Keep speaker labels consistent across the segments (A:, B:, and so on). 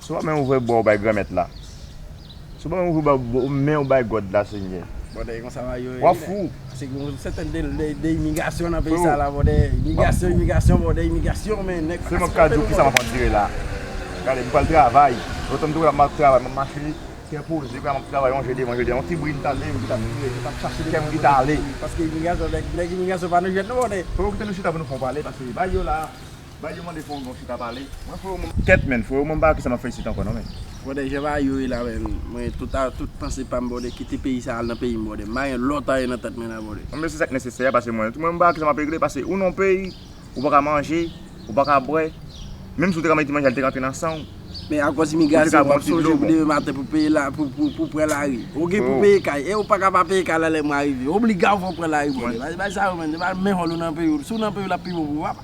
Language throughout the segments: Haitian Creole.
A: Si w pa men ouvè bwa w bay Granmèt la. Si w pa men ouvè bwa men w bay God la, Senyè. Bòdè e konsa bagay yo
B: ye. Wap fou. Se gen
A: yon sèten
B: de imigrasyon nan peyi sa la bòdè. Imigrasyon imigrasyon bòdè imigrasyon men nèg. Selman m ka di w kisa map
A: andire la. Gade m pral travay. Lontan m te wè la map travay map mache kè poze kounya map travay yon je devan je dèyè. Yon ti bri m t ale yon ti tap tire m tap chache kè m ki t ale. Paske imigrasyon
B: nèg imigrasyon pa nan jwèt non bòdè. Fò yo kite nou chita pou nou fon pale
A: paske bagay yo la. Bay yo mande fon gon chita pale. Mwen fre yo mwen ket menn fre yo mwen pa wè kisa map fè isit ankò non menn. Brother jan bagay yo ye
B: la menn mwen tout a tout panse pam brother kite peyi sa al nan peyim brother m pa gen lot anyen nan tèt mwen la brother. Mwen se sak nesesè a pase
A: mwen tou mwen m pa wè kisa map regle pase ou nan peyi ou paka manje ou paka bwè menm si ou te ka mete manje a li te ka antre nan sanw Men akòz
B: imigrasyon wap sonje pou demen maten pou peye la pou pran lari ou gen pou peye kay e ou paka pa peye kay la lè mwa rive obliga ou fòk pran lari brother bagay sa yo menn se pa menm hòl ou nan peyi w si w nan peyi w lap pi bon pou ou papa.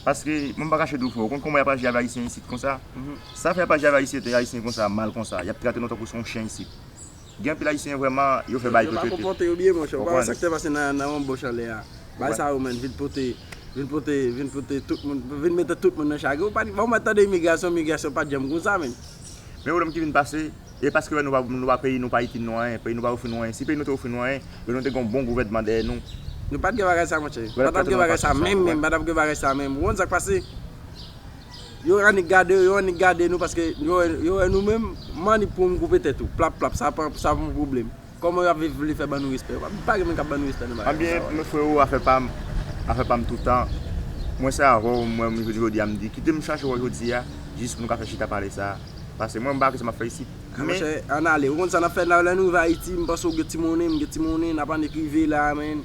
B: Paske
A: mwen pa kache di w freo, ou konn kòman y ap aji avè ayisyen isit konsa? Sa fè y ap aji avè ayisyen te ayisyen konsa mal konsa? Y ap trate nou tankou se yon chen isit. Gen anpil ayisyen vrèman yo fè bagay yo pa konpòte yo byen monchè,
B: ou pa wè sa k te pase nan Wonboch anlè a? Bagay sa yo menn vin pote vin pote vin pote tout moun vin mete tout moun nan chagren ou pa t ou pa t tande imigrasyon imigrasyon pa t janm konsa menn. Men yon lòm ki vin
A: pase E paske yo wè nou pa peyi nou pa itil nou anyen, peyi nou pa ofri nou anyen, si peyi nou te ofri nou anyen, yo nou te gen yon bon gouvènman dèyè nou. Nou pat gen bagay sa
B: monchè. Pat ap gen bagay sa menm menm, pat ap gen bagay sa menm. Ou konn sak pase? Yo annik gade, yo annik gade nou paske yo wè nou menm, m'annik pou'm koupe tèt ou. Plap plap, sa pa yon pwoblèm. Koman yo ap viv vle fè ban nou respè yo pa pa gen moun kap ban nou respè nan bagay konsa wayy. Anbyen freo
A: afè pam afè pam toutan mwen se avèw m wèm jodi jodi a m di kitem chache wè jodi a jis pou nou ka fè chita pale sa pase mwen m pa wè kisa map fè isit men Monchè an ale
B: ou konn sa nap fè lè nou rive ayiti m panse ou gen ti monnen m gen ti monnen nap annik rive la menn.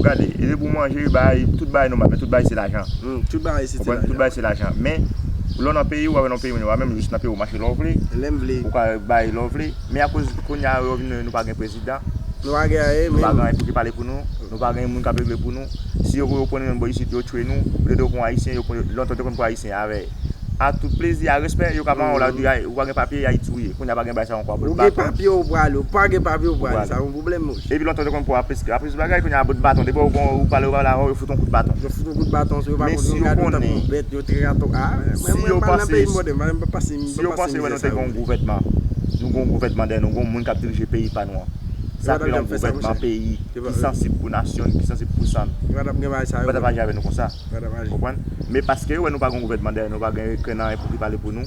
A: Gade, e depi ou manje, yo bay, tout bagay nòmal, men tout bagay se lajan. Tout bagay se ti
B: lajan. Tout bagay se lajan. Men,
A: lè w nan peyi w, wap wè nan peyi moun yo, wap menm jis nan peyi w mache lè w vle. Lè m vle. Ou ka
B: bay lè w
A: vle. Men akoz kounye a yo vin nou pa gen prezidan. Nou pa gen anyen
B: menm. Nou pa gen anyen pou ki pale pou nou.
A: Nou pa gen moun kap regle pou nou. Si yo pran nou menm bò isit, yo tchwe nou. Ou te dwe konn Ayisyen, yo pran, lontan yo te konn pran Ayisyen avè, ak tout plezi, ak respè, yo ka pran w la, yo di, ou pa gen papye, ya yi touye. Kounye a pa gen bagay sa yo ankò. Ou gen papye ou
B: prale, ou pa gen papye ou prale. Epi lontan yo te konn pran
A: plis bagay kounye a bout baton depi yo wè ou pale ou pa pale avè w yo fout w kout baton
B: men si
A: yo
B: konnen si yo panse si yo panse wè nou te gen
A: yon gouvènman nou gen yon gouvènman dèyè nou gen yon moun k ap dirije peyi pa nou an sa rele yon gouvènman peyi ki sansib pou nasyon li ki sansib pou san li yo pa tap aji avè nou konsa men paske yo wè nou pa gen yon gouvènman dèyè nou pa gen kè nan pou ki pale pou nou.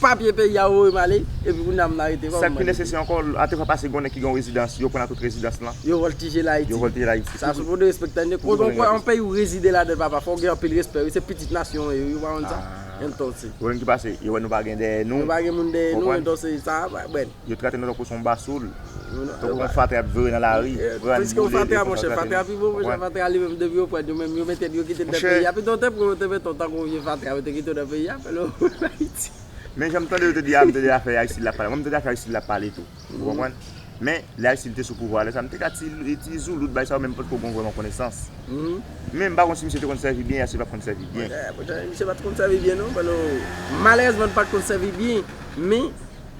B: Papye peyi a voye m ale epi kounye a m nan rete kòman m Sak pi mande nesesè peyi. ankò,
A: a te fwa pase gen yon nèg ki gen yon rezidans, yo pran nan tout rezidans lan. Yo vòltije l Yo Ayiti.
B: vòltije l Ayiti. Sa sou pou nou respektan li. Koz on kwe on peyi ou rezide ladan l papa fò w gen anpil respè wi se pitit nasyon an yo wi ou pa konn sa? Entonse. Pwoblèm ki pase, yo wè
A: nou pa gen dèyè nou. Nou pa gen moun dèyè nou, Konprann?
B: entonse sa a pa bèl. Yo trate nou tankou son
A: basoul, tankou yon fatra yap jore nan lari, pran, boule, defann, maltrate nou. Monchè,
B: fatra pi bon monchè, fatra li menm depi yo prann yo menm yo mete yo kite nan peyi a pito yo te pran yo te mete w tankou vye fatra yo te kite w nan peyi a fèl retounen Ayiti. Men janm tande yo
A: te di a m tande afè Aristide lap pale mwen m tande afè Aristide lap pale tou ou konprann men lè Aristide te sou pouvwa a lè sa m te ka ti ti zoulout bay sa yo men m pat ko gon vrèman konesans men m pa konn si misye te konn sèvi byen ya si l pat konn sèvi byen. Monchè misye pat konn
B: sèvi byen non fèl ou malerèzman l pat konn sèvi byen
A: men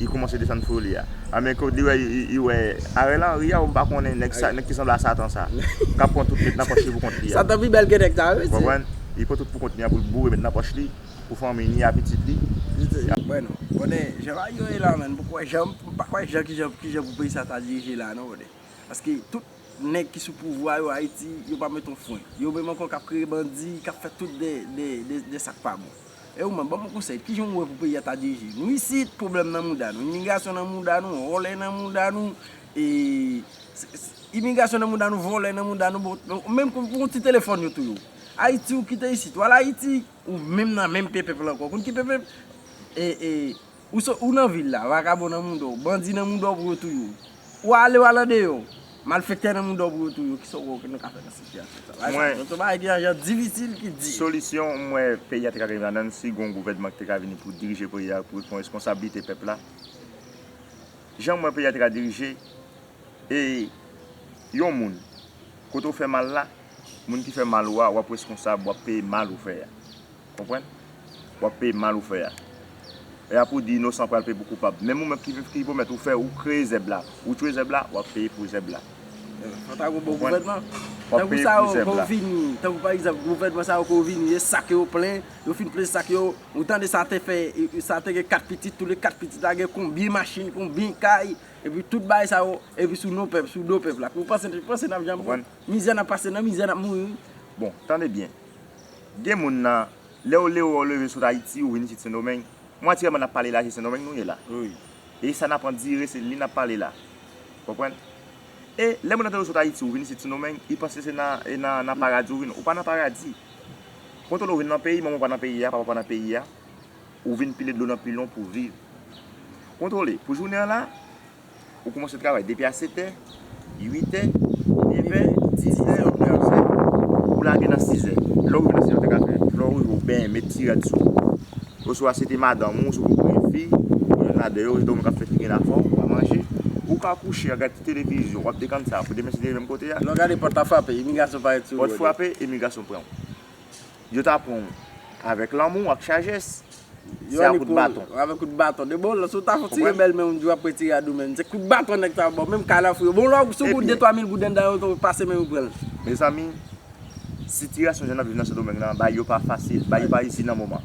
A: Li koumanse desann fou li a. A men kot li wè li wè Ariel Henry a ou m pa konnen nèg sa nèg ki sanble a satan sa. Kap pran tout met nan pòch li pou kont li a. Satan pi bèl ke nèg sa wi
B: mesye. Ou konprann? Li pran tout pou kont
A: li an pou l boure met nan pòch li pou fanmi ni a pitit li. Mwen non.
B: Bòne jan bagay yo ye la menn poko wè jan m pa kwè jan kijan kijan pou peyi sa ta dirije la non bòne. Paske tout nèg ki sou pouvwa yo ayiti yo pa met yon fwen. Yo menm ankò kap kreye bandi kap fè tout de de de sak pa bon. E ou menm, ban m yon konsèy, ki jan ou wè pou peyi a ta dirije? Nou isit, pwoblèm nan mouda nou, imigrasyon nan mouda nou, vòlè nan mouda nou, e, imigrasyon nan mouda nou, vòlè nan mouda nou, bon, menm pou yon ti telefòn yo touye w. Ayiti, ou kite isit, ou al Ayiti, ou menm nan menm pepèp la ankò, ou konn ki pepèp? E, e. Ou sot ou nan vil la, vakabon nan mouda w, bandi nan mouda w pou yo touye w. Ou ale w al andeyò, malfektè nan mouda w pou yo touye w. Kisa w wè nou ka fè nan sitiyasyon sa? Bagay sa se yon bagay ki ajan difisil, ki di. Solisyon m wè
A: peyi a te ka rive ladan l si gen yon gouvènman ki te ka vini pou dirije peyi a, pou l pran responsablite pèp la. Jan m wè peyi a te ka dirije, e yon moun kote w fè mal la, moun ki fè mal ou a, w ap reskonsab, w ap peye mal ou fè a. Konprann? Wap peye mal ou fè a. E apre ou di inosan pral peye pou koupab. Menm ou menm ki vin ki pwomèt ou fè ou kreye zèb la. Ou tchwe zèb la, wap peye pou zèb la. Konprann? Tankou
B: bon gouvènman. Wap peye pou zèb la. Tankou pa egzanp gouvènman sa yo ke yo vini e sak yo plen, yo fin plen sak yo, ou tande sa te fè, sa te gen 4 pitit, tou le 4 pitit la gen konbyen machin, konbyen kay, epi tout bagay sa yo, epi sou non pèp, sou do pèp la. Ou panse, ou panse nap janm. Konprann? Mizè nap pase nan mizè nap mouri. Bon, tande byen.
A: Gen moun nan Lè ou lewe ou leve sot ayiti ou vini sit sendomeng mwatyèman nap pale la se sendomeng nou ye la e sa
B: nap
A: andire se li nap pale la konprann e lè moun nan te ou sot ayiti ou vini sit sendomeng i panse se nan paradi ou vini ou pa nan paradi kontole ou vini nan peyi manman ou pa nan peyi a papa ou pa nan peyi a ou vini pile dlo nan pilon pou viv kontole pou jounen an la. Ou koumanse travay depi a setè, uitè, nevè, dizè, ou gen anzè. Ou lage nan sizè. Lè ou rive nan sizè ou te ka fè flò ou, ou benyen, met ti rad sou ou. Oswa se te madanm ou, se te yon grann fi, ou gen la deyò, ou gen moun k ap fè figi l afò, ou ka manje. Ou ka kouche a gad ti televizyon, w ap dekann sa a pou demen si te rive menm kote a. Lè w gade pòt la frape,
B: imigrasyon parèt sou ou. Pòt frape, imigrasyon
A: pran ou. Yo ta pran ou avèk lanmou ak chajès, se a kout baton. Yo avèk kout baton. De bon,
B: si w ta fon ti rebèl menm, di w ap retire a dou menm. Se kout baton nèg sa yo ba w. Menm kay la fou yo. Bon lò, si w gen 2, 3 mil gouden anndan yo, ou pase men yo pran l. Mezanmi,
A: sitiyasyon jèn ap viv nan Sendomeng lan, bagay yo pa fasil. Bagay yo pa izi nan moman.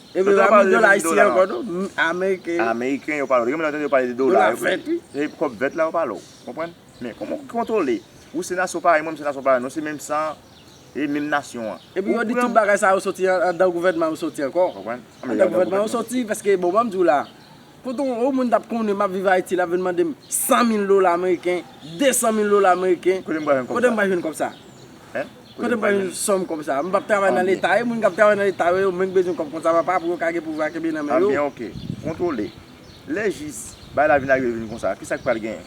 A: Ebyen yo
B: pa pale de menm dola ankò tou, ameriken. Ameriken yo pale, gen
A: moun yo tande yo pale de dola. Dola vèt wi. Se kòb vèt la yo pale ou konprann. Men kòman ou kontwole, ou se nasyon parèy mwen, mwen se nasyon parèy ou, nou se menm san, e menm nasyon an. Epi yo di tout
B: bagay sa yo soti anndan gouvènman yo soti ankò. Konprann. Anndan gouvènman yo soti, paske bon banm di ou la, kote yon moun tap konnen map viv Ayiti lap vin mande m 100 mil dola ameriken, 200 mil dola ameriken, kote m pral jwenn kòb sa? Kote m pran yon sòm kòb sa? M pap travay nan leta e moun k ap travay nan leta yo, yo menm bezwen kòb konsa papa pou yo ka gen pouvwa kenbe nan men yo. Anbyen ok.
A: Kontwole. Lè jis bagay la vin arive vin konsa, kisa k pral genyen?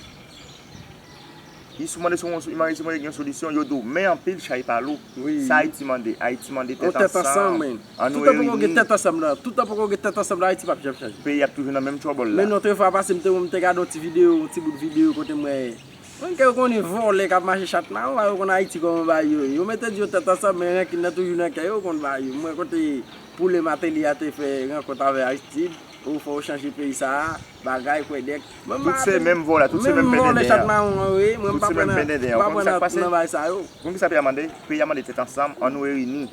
A: I si w mande si yon si mande si w mande gen yon solisyon, yo di w men anpil chay pa lou. Sa Ayiti mande? Ayiti mande tèt ansanm. Yon tèt ansanm wi. An nou reyini. Toutan poko gen
B: tèt ansanm la, toutan poko gen tèt ansanm la Ayiti pap janm chanje. Peyi a ap toujou nan menm
A: trouble la. Men yon te fwa pase m te wè
B: m te gade yon ti videyo, yon ti bout videyo kote m wè. Mwen ke yo konnen vòlè kap mache chat maron ba yo konn ayiti kòman ba yo ye yo mete di yo tèt ansanm men rankin nan toujou nan kè yo yo konn ba yo mwen kote poule mateli a te fè rankont avè aristid o fòw chanje peyi sa a bagay kwèdèk mwen pa tout se menm
A: vòlè tout se menm pendenden an tout se
B: menm pendenden an ou konn sak pase ou konn kisa peyi a mande peyi
A: a mande tèt ansanm an nou reyini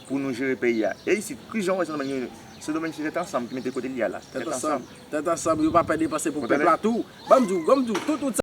A: pou nou jere peyi a e isit kijan ou wè sendomeng reyini sendomeng se tèt ansanm ki mete kote li a la
B: tèt
A: ansanm
B: yo pa pè depanse
A: pou
B: pèp la tou banm diw banm diw tout